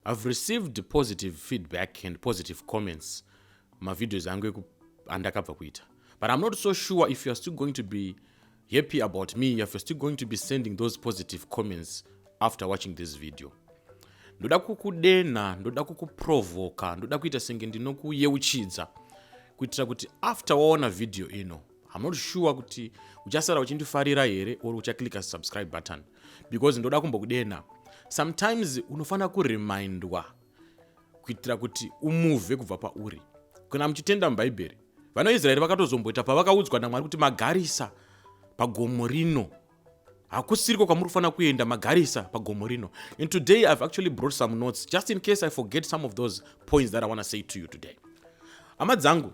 I've received positive feedback and positive comments mavideos angu andakabva kuita but i'm not so sure if youare still going to be happy about me if you're still going to be sending those positive comments after watching this video ndoda kukudenha ndoda kukuprovoka ndoda kuita senge ndinokuyeuchidza kuitira kuti after waona vhidhiyo ino I'm not sure kuti uchasara uchindifarira here or uchaclicka subscribe button because ndoda kumbokudena sometimes unofanira kuremindwa kuitira kuti umuvhe kubva pauri kana muchitenda mubhaibheri vanaisraeri vakatozomboita pavakaudzwa namwari kuti magarisa pagomo rino hakusiriko kwamuri kufanira kuenda magarisa pagomo rino and today ihave actually brought some notes just in case i forget some of those points that i want to say to you today hama dzangu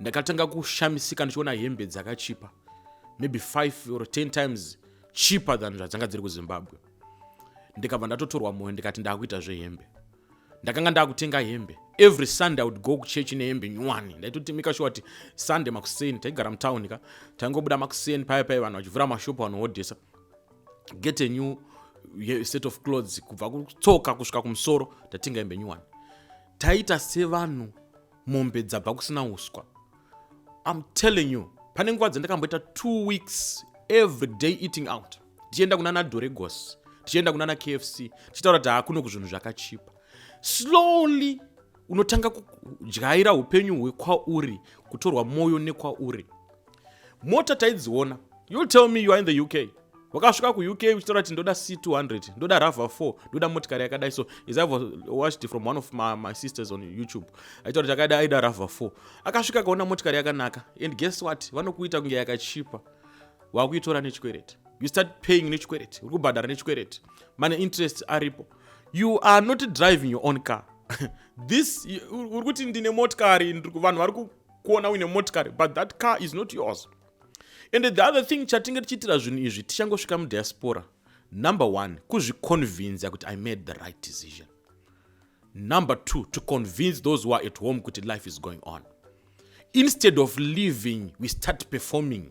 ndakatanga kushamisika ndichiona hembe dzakachipa maybe 5 or 10 times cheaper than zvadzanga dziri kuzimbabwe ndikabva ndatotorwa moyo ndikati ndakuita zvehembe ndakanga ndakutenga hembe every sunday would go kuchechi nehembe nyuwani ndaitotimika shuwa kuti sunday makuseni taigara mutown ka taingobuda makuseni paya paya vanhu vachivhura mashopu vanohodhesa get a new set of clothes kubva kutsoka kusvika kumusoro tatenga hembe nyuwani taita sevanhu mombe dzabva kusina uswa im telling you pane nguva dzandakamboita two weeks every day eating out tichienda kunana doregos tichienda kunana kfc tichitaura kuti hakuno kuzvinhu zvakachipa slowly unotanga kudyaira upenyu hwekwauri kutorwa mwoyo nekwauri mota taidziona you'll tell me you are in the uk wakasvika kuuk uchitaura kuti ndoda c200 ndoda rava 4 ndoda motikari yakadai so is ive watched from one of my, my sisters on youtube aitaura kuti akaida aida rava 4 akasvika akaona motikari yakanaka and guess what vanokuita kunge yakachipa wakuitora nechikwereti you start paying nechikwereti uri kubhadhara nechikwereti mane interest aripo you are not driving your own car this uri kuti ndine motikari vanhu vari kuona uine motikari but that car is not yours and the other thing chatinge tichiitira zvinhu izvi tichangosvika mudiaspora number one kuzviconvinza kuti i made the right decision number two to convince those who are at home kuti life is going on instead of living we start performing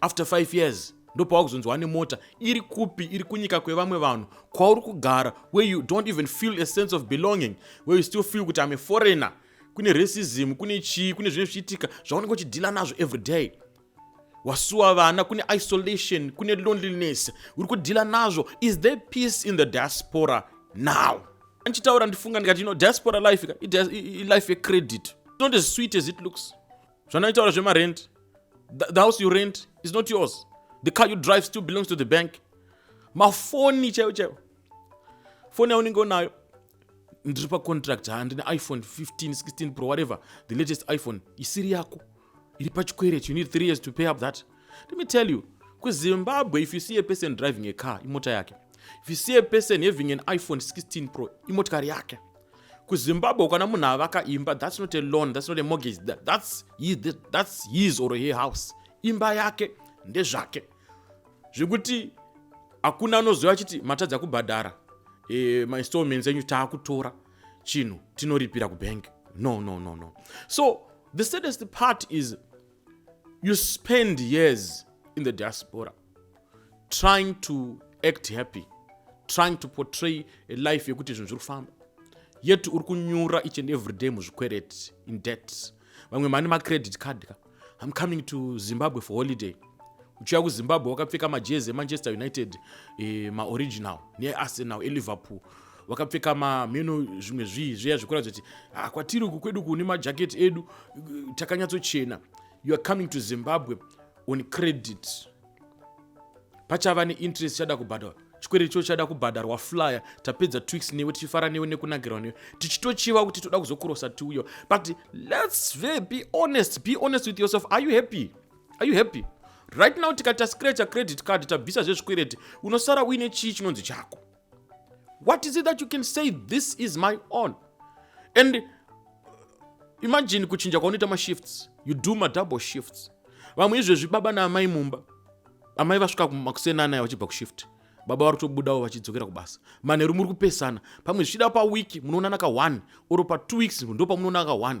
after five years ndopava kuzonzwa ane mota iri kupi iri kunyika kwevamwe vanhu kwauri kugara where you don't even feel a sense of belonging where you still feel kuti ame foreigner kune racism kune chii kune zvinenge zvichiitika zvaunenge uchidhila nazvo every day wasuwa vana kune isolation kune loneliness uri kudhila nazvo is there peace in the diaspora now andichitaura ndifunga ndikati you know diaspora life ilife yecredit not as sweet as it looks zvanoitaura zvemarent the, the house you rent is not yours the car you drive still belongs to the bank mafoni chaiwo chaiwo foni yaunenge unayo ndiri pacontract handine iphone 15 16 pro whatever the latest iphone isiri yako iri pachikwereti you need three years to pay up that let me tell you kuzimbabwe if you see a person driving a car imota yake if you see a person having an iphone 16 pro imotikari yake kuzimbabwe ukana munhu avaka imba thats not a loan thats not a mortgage thats his, that's his or he house imba yake ndezvake zvekuti hakuna anoziva achiti matadza kubhadhara e, eh, mainstallments enyu taakutora chinhu tinoripira kubank no no no no so the sadest part is you spend years in the diaspora trying to act happy trying to portray a life yekuti zvinhu zviri kufamba yet uri kunyura each and every day muzvikwereti in debt vamwe mani macredit card ka im coming to zimbabwe for holiday uchiuya kuzimbabwe wakapfeka majezi emanchester united eh, maoriginal nearsenal eliverpool wakapfeka mameno zvimwe zvii zviya zvekuratidza kuti ah, kwatiri uku kwedu kune majaketi edu takanyatsochena you are coming to zimbabwe on credit pachava neinterest chada kubhadharwa chikwereti cho chada kubhadharwa flyer tapedza twix newe tichifara newe nekunakirwa newe tichitochiva kuti toda kuzokurosa tiuyo but lets ve be honest be honest with yourself are you happy are you happy right now tikati tascratcha credit card tabvisa zvezvikwereti unosara uine chii chinonzi chako what is it that you can say this is my own and uh, imagine kuchinja kwaunoita mashifts you do madouble shifts vamwe izvezvi baba naamai mumba amai vasvika makuseni anaya vachibva kushift baba vari kutobudawo vachidzokera kubasa manheru muri kupesana pamwe zvichida pawiki munoonana ka one or patwo weeks ndo pamunoonana ka one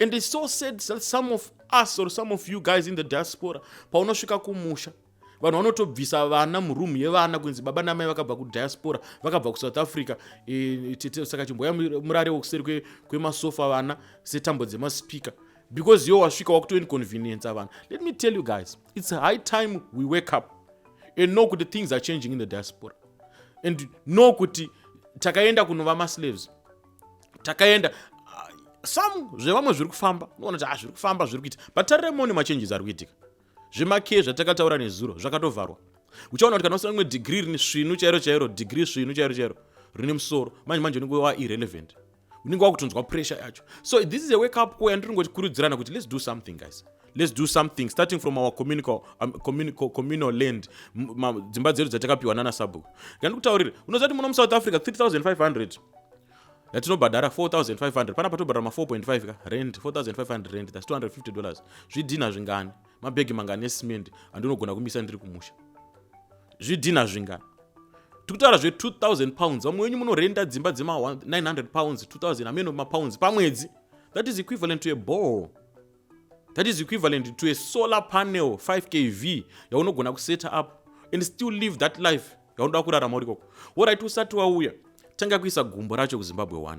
and it's so sad that some of us or some of you guys in the diaspora paunosvika kumusha vanhu vanotobvisa vana muroom yevana kunzi baba namai vakabva kudiaspora vakabva kusouth africa e, saka chimboya murare wokuseri kwemasofa vana setambo dzemaspika because yo wasvika wakutoinconvenienca vanhu let me tell you guys it's high time we wake up and know kuti things are changing in the diaspora and know kuti takaenda kunova maslaves takaenda ah, some zvevamwe zviri kufamba unoona kuti ah, zviri kufamba zviri kuita but tarire mone machanges ari kuitika zvemakee zvatakataura nezuro zvakatovharwa uchaona kuti kana usina rimwe degree rine svinu chairo chairo degree svinu chairo chairo rine musoro manje manje unenge wa irrelevant unenge wakutonzwa pressure yacho so this is a wake up call yandiri ngoti kurudzirana kuti let's do something guys let's do something starting from our communal, um, communal, communal land dzimba dzedu dzatakapiwa nana sabhuku ngandikutaurire unoziva kuti muno musouth africa 3500 yatinobhadhara 4500 pana patobhadhara ma 4.5 ka rent 4500 rent thats 250 dollars zvidhina zvingani mabhegi mangani esimende andinogona kumisa ndiri kumusha zvidhina zvingani tikutaura zve 2000 pounds vamwe wenyu munorenda dzimba dzema 900 pounds 2000 ameno mapounds pamwedzi that is equivalent to a ball that is equivalent to a solar panel 5 kv yaunogona kuseta up and still live that life yaunoda kurarama uri koko worit usati wauya tanga kuisa gumbo racho kuzimbabwe 1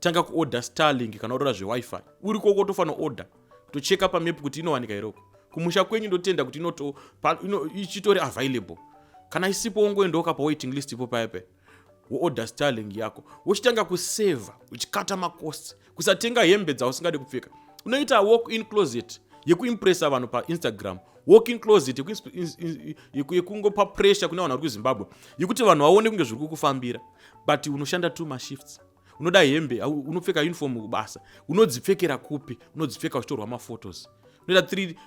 tanga kuorder starlink kana urora zvewifi uri koko tofanira order tocheka pamap kuti inowanika iroko kumusha kwenyu ndotenda kuti ichitori available kana isipo wongoendawo kapa waiting list ipo paya paya woodha starling yako wochitanga kuseva uchikata makosti kusatenga hembe dzausingadi kupfeka unoita walk in closet yekuimpressa vanhu painstagram walk in closet yekungopa pressure kune vanhu vari kuzimbabwe yekuti vanhu vaone kunge zviri kukufambira but unoshanda two mashifts unoda hembe unopfeka uniform kubasa unodzipfekera kupi unodzipfeka uchitorwa maphotos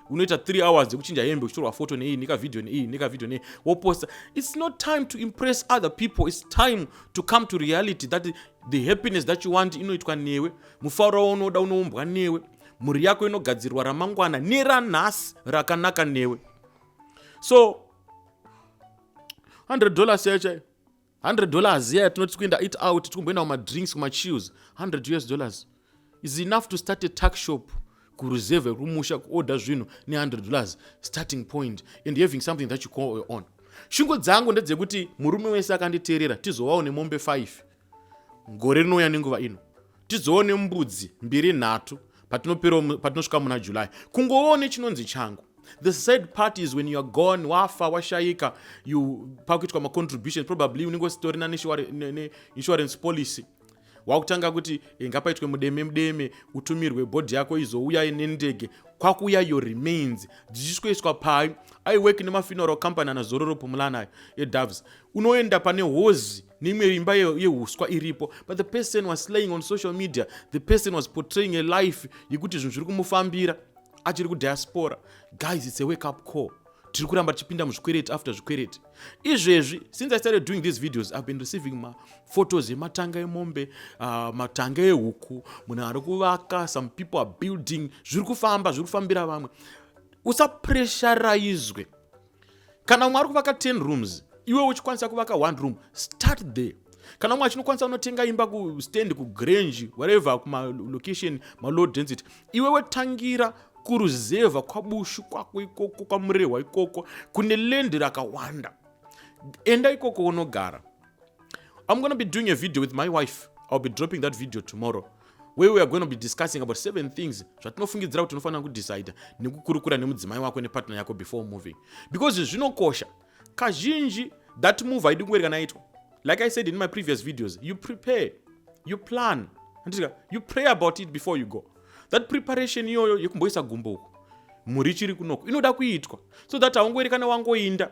unoita three hours dzekuchinja hembe uchitorwa photo neiyi nekavideo neiyi nekavideo nei woposta its not time to impress other people its time to come to reality that the happiness that you want inoitwa newe mufaro waunoda unoumbwa newe mhuri yako inogadzirwa ramangwana neranhasi rakanaka newe so 100 dollars yaichai 100 dollars iya yatinoti kuenda it out tikumboenda kumadrinks kumachews 100 us dollars is enough to start a tuck shop kuruzevhe rwumusha kuorder zvinhu ne100 dollars starting point and having something that you call your own shungo dzangu ndedzekuti murume wese akanditeerera tizovawo nemombe 5 gore rinouya nenguva ino tizoone mbudzi mbiri nhatu patinosvika muna july kungoone chinonzi changu the sad part is when youare gone wafa washaika you pakuitwa macontribution probably unenge usitorina neinsurance policy wakutanga kuti eh, ngapaitwe mudeme mudeme utumirwe bhodhi yako izouya nendege kwakuuya yo remains dzichisweswa pai aiwek nemafuneral company anazororo pumulanayo edoves unoenda pane hozi neimwe imba yehuswa iripo but the person was slaying on social media the person was portraying a life yekuti zvinhu zviri kumufambira achiri kudiaspora guys its a wake up call tiri kuramba tichipinda muzvikwereti after zvikwereti izvezvi since i started doing these videos ihave been receiving maphotos ematanga emombe uh, matanga ehuku munhu ari kuvaka some people are building zviri kufamba zviri kufambira vamwe usapresharaizwe kana umwe ari kuvaka 10 rooms iwe uchikwanisa kuvaka one room start there kana umwe achinokwanisa unotenga imba kustand kugrange whatever kumalocation malow density iwewe tangira kuruzevha kwabushu kwako ikoko kwamurehwa ikoko kune lendi rakawanda enda ikoko unogara I'm going to be doing a video with my wife. I'll be dropping that video tomorrow where we are going to be discussing about seven things zvatinofungidzira kuti unofanira kudecide nekukurukura nemudzimai wako nepartner yako before moving because zvinokosha kazhinji that move haidi kunge rikanaitwa like i said in my previous videos you prepare you plan anditika you pray about it before you go that preparation iyoyo yekumboisa gumbo uku mhuri chiri kunoko inoda kuitwa so that haungoerekana wangoinda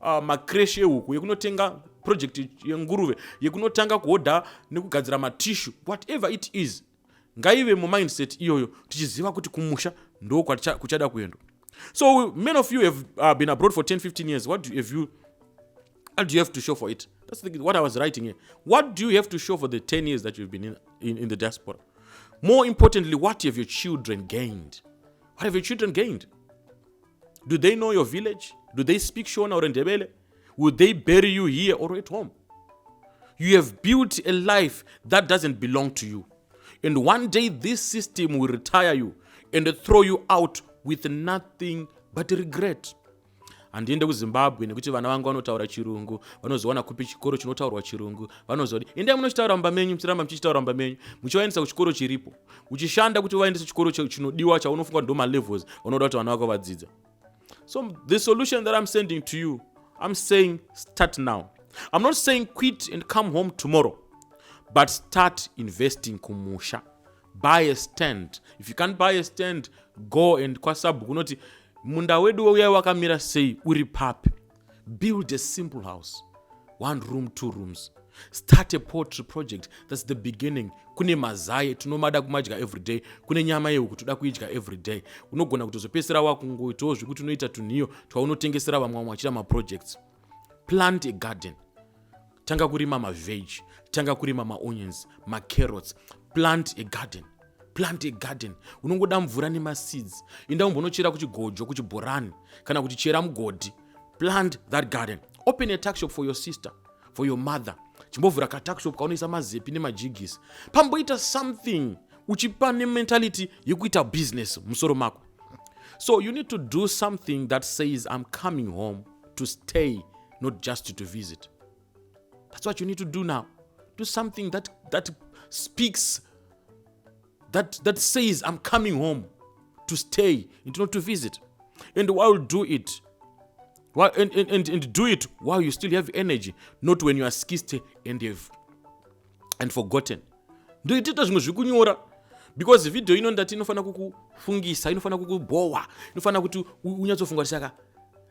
uh, macresh ehuku yekunotenga project yenguruve yekunotanga kuhodha nekugadzira matishu whatever it is ngaive mumindset iyoyo tichiziva kuti kumusha ndo kuchada kuendwa so many of you have uh, been abroad for 10 15 years what do, have you, what do you have to show for it that's the, what i was writing here what do you have to show for the 10 years that you've been in, in, in the diaspora more importantly what have your children gained what have your children gained do they know your village do they speak shona or ndebele will they bury you here or at home you have built a life that doesn't belong to you and one day this system will retire you and throw you out with nothing but regret handiende kuzimbabwe nekuti vana vangu vanotaura chirungu vanozowana kupi chikoro chinotaurwa chirungu vanozodi endai munochitaura mumba menyu muchiramba muchichitaura mumba menyu muchivaendesa kuchikoro chiripo uchishanda kuti vaendese chikoro chinodiwa chaunofunga kuti ndomalevels vanoda kuti vana vako vadzidza so the solution that i'm sending to you i'm saying start now i'm not saying quit and come home tomorrow but start investing kumusha buy a stand if you can't buy a stand go and kwasabhu kunoti munda wedu weuya wakamira sei uri papi build a simple house one room two rooms start a potry project thats the beginning kune mazai tinomada kumadya everyday kune nyama yehuku toda kuidya everyday unogona kutozopedzisira wakungoitawo zvekuti unoita tunhiyo twaunotengesera vamwe vamwe vachita maprojects plant a garden tanga kurima maveg tanga kurima maonions macarrots plant a garden plant a garden unongoda mvura nemaseeds inda umbonochera kuchigojo kuchibhorani kana kuti chera mugodhi plant that garden open a taxshop for your sister for your mother chimbovhura kataxshop kaunoisa mazepi nemajigisi pamboita something uchipa nementality yekuita business musoro mako so you need to do something that says i'm coming home to stay not just to visit that's what you need to do now do something that, that speaks that, that says i'm coming home to stay and not to visit and while do it while, and, and, and, and do it while you still have energy not when you are skisty and have and forgotten ndoitita zvimwe zviri kunyora because video ino ndati inofanira kukufungisa inofanira kukubhowa inofanira kuti unyatsofunga kuti saka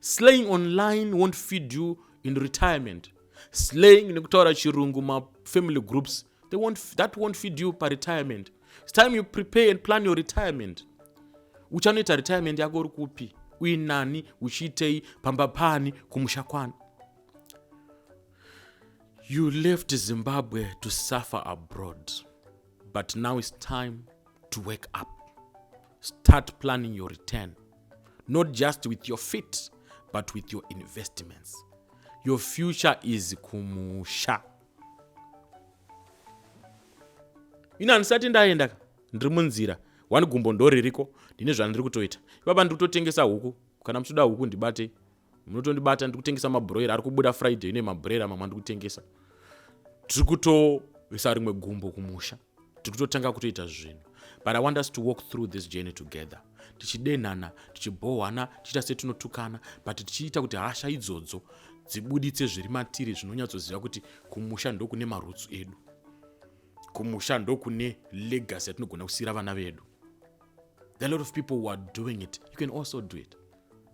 slaying online won't feed you in retirement slaying nekutaura chirungu mafamily groups they won't, that won't feed you paretirement its time you prepare and plan your retirement uchanoita retirement yako uri kupi uinani uchiitei pamba pani kumusha kwani you left zimbabwe to suffer abroad but now its time to wake up start planning your return not just with your feet but with your investments your future is kumusha ina handisati ndaenda ka ndiri munzira wani gumbo ndoririko ndine zvandiri kutoita ipapa ndiri kutotengesa huku kana muchitoda huku ndibate munotondibata ndiri kutengesa mabroira ari kubuda friday ine mabroira mamwe andiri kutengesa tiri kutovesa rimwe gumbo kumusha tiri kutotanga kutoita zvinhu but i want us to walk through this journey together tichidenhana tichibhohwana tichiita setinotukana but tichiita kuti hasha idzodzo dzibuditse zviri matiri zvinonyatsoziva kuti kumusha ndokune marutsu edu kumusha ndokune legacy yatinogona kusiyira vana vedu the lot of people who are doing it you can also do it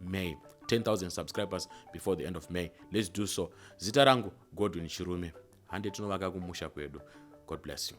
may 10000 subscribers before the end of may let's do so zita rangu godwin chirume hande tinovaka kumusha kwedu god bless you